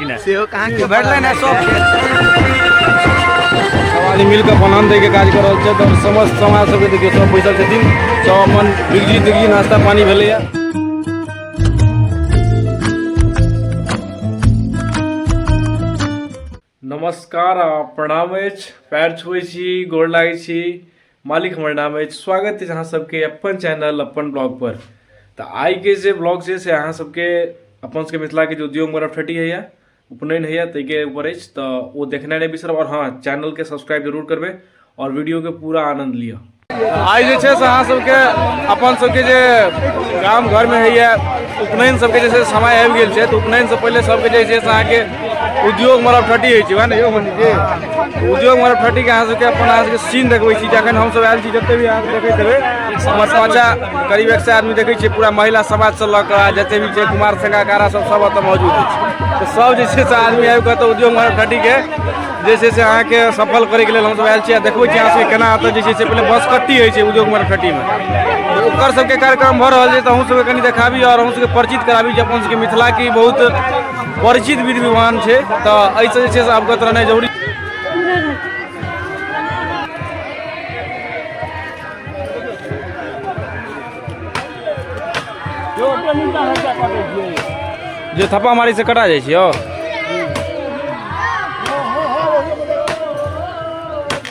सेहो कहाँ के भेटलै ने सब सब आदमी मिल कऽ अपन अन्न दैके काज कऽ रहल छथि आओर समस्त समाज सबके देखियौ सब बैसल छथिन सब अपन बिगजी तिगजी नाश्ता पानी भेलैए नमस्कार आ प्रणाम अछि पैर छुए छी गोर लागै छी मालिक हमर नाम अछि स्वागत अछि अहाँ सबके अपन चैनल अपन ब्लॉग पर तऽ आइके जे ब्लॉग छै से अहाँ सबके अपन सबके मिथिलाके जे उद्योग मरफेटी होइए उपनयन होइए ताहिके ऊपर अछि तऽ ओ देखनाइ नहि बिसरब आओर हँ चैनलके सब्सक्राइब जरूर करबै आओर वीडियोके पूरा आनन्द लिअ आइ जे छै से अहाँ सबके अपन सबके जे गाम घरमे होइए उपनयन सबके जे छै से समय आबि गेल छै तऽ उपनयनसँ पहिले सबके जे छै से अहाँके उद्योग मरब ठटी होइ छै वएह ने यौ मनी जी उद्योग मरब ठटीके अहाँ सबके अपन अहाँ सबके सीन देखबै छी जे अखन हमसब आयल छी जते भी अहाँ सब देखैत हेबै हमर पाँचा करीब एक सए आदमी देखै छियै पूरा महिला समाजसँ लऽ कऽ आ जते भी छै कुमार संघाकारा सब सब एतऽ मौजूद अछि तऽ सब जे छै से आदमी आबि कऽ एतऽ उद्योग मरब ठटीके जे छै से अहाँके सफल करैके लेल हमसब आयल छी आ देखबै छी अहाँ सबके केना एतऽ जे छै से पहिले बसकट्टी होइ छै उद्योग मरब ठटीमे ओकर सबके कार्यक्रम भऽ रहल छै तऽ अहूँ सबके कनि देखाबी आओर अहूँ सबके परिचित कराबी जे अपन सबके मिथिला की बहुत परिचित विधि विधान छै तऽ एहिसँ जे छै से अवगत रहनाइ जरूरी जे थप्पा मारी से कटा जाइ छियौ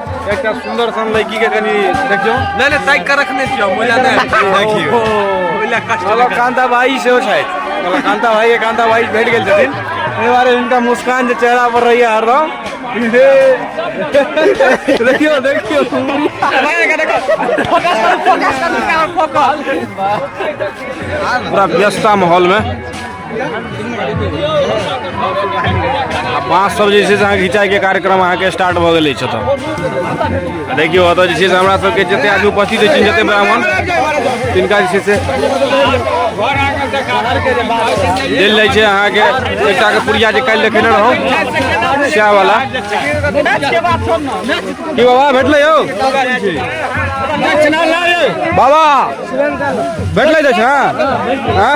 एकटा सुन्दर सन लड़की के कनी देखियो नहीं नहीं साइड का रखने छियो मजा नहीं देखियो ओइला कष्ट चलो कांता भाई से हो शायद चलो कांता भाई ये कांता भाई बैठ गेल छथिन एहि बारे इनका मुस्कान जे चेहरा पर रही हर रहो देखियो देखियो पूरा व्यस्ता माहौल में आ बाँस सब जे छै से अहाँ घिचाइके कार्यक्रम अहाँके स्टार्ट भऽ गेल अछि ओतऽ आ देखियौ ओतऽ जे छै से हमरा सबके जते आदमी उपस्थित अछि जते ब्राह्मण तिनका जे छै से देल जाइ छै अहाँके एकटाके पुरिया जे काल्हि देखेने रहौं सएह वाला की बाबा भेटलै यौ बाबा भेटलै दक्षिणा हँ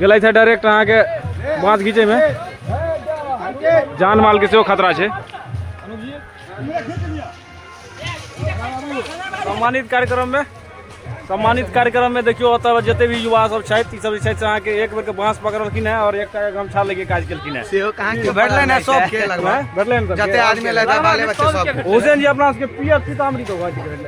गेलै छै डायरेक्ट अहाँके बाँस घीचैमे जान मालके सेहो खतरा छै सम्मानित कार्यक्रममे सम्मानित कार्यक्रममे देखियौ ओतऽ जते भी युवा सब छथि ई सब जे छथि से अहाँके एक बेरके बाँस पकड़लखिन हेँ आओर एकटा गमछा लेके काज केलखिन हेँ सेहो कहाँ के भेटलै ने सबके लगभग भेटलै ने जते आदमी एलै बाले बच्चे सब हुसैन जी अपना सबके पियर सीतामढ़ी के घर छै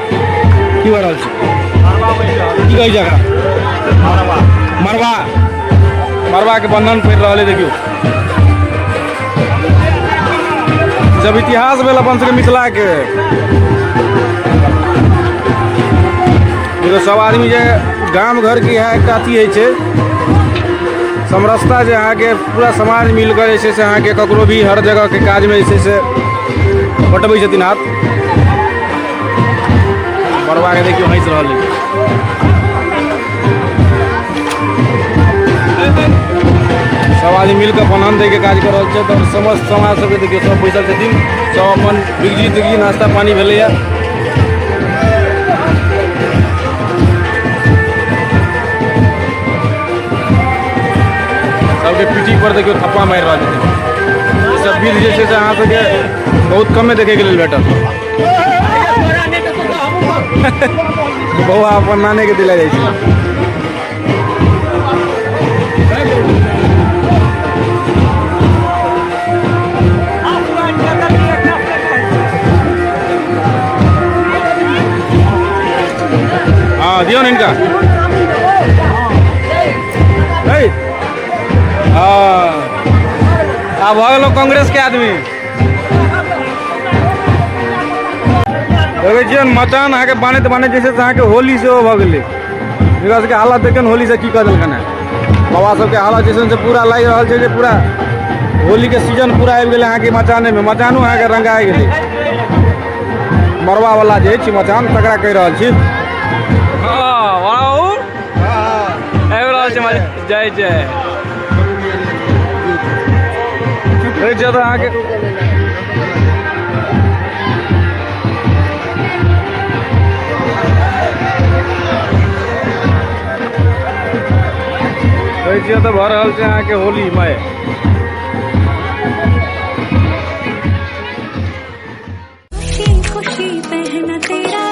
की भऽ रहल छै की कहै छै एकरा मरबा मरबाके बंधन पड़ि रहल है देखियौ जब इतिहास भेल अपन सबके मिथिलाके देखियौ सब आदमी जे गाम घरके इएह एकटा अथी होइ छै समरसता जे अहाँके पूरा समाज मिलकर जे छै से अहाँके ककरो भी हर जगहके काजमे जे छै से बटबै छथिन हाथ बड़वा के देखियो हंस रहल है सब आदमी मिलकर अपन अन्न दैके काज कऽ रहल छथि आओर समस्त समाज सबके देखियौ सब बैसल छथिन सब अपन बिगजी तिगजी नाश्ता पानी भेलैए सबके पीठी पर देखियौ थप्पा मारि रहल छथिन ई सब विध जे छै से अहाँ सबके बहुत कमे देखैके लेल भेटत बौआ अपन नाने के दिला जाइ छै हाँ दियो ना इनका है? हाँ अब हो गेलो कांग्रेस के आदमी देखै छियै मचान अहाँके बनैत बनैत जे छै से अहाँके होली सेहो भऽ गेलै एकरा सबके हालत देखियौ ने होलीसँ की कऽ देलकन हेँ बाबा सबके हालत जे छै से पूरा लागि रहल छै जे पूरा होलीके सीजन पूरा आबि गेलै अहाँके मचानेमे मचानो अहाँके रंगा आबि गेलै मरबावला जे अछि मचान तकरा कहि रहल छी जय जय अरे जब आगे कैसे तो भर रहल छै अहाँके होली मय खुशी पहना तेरा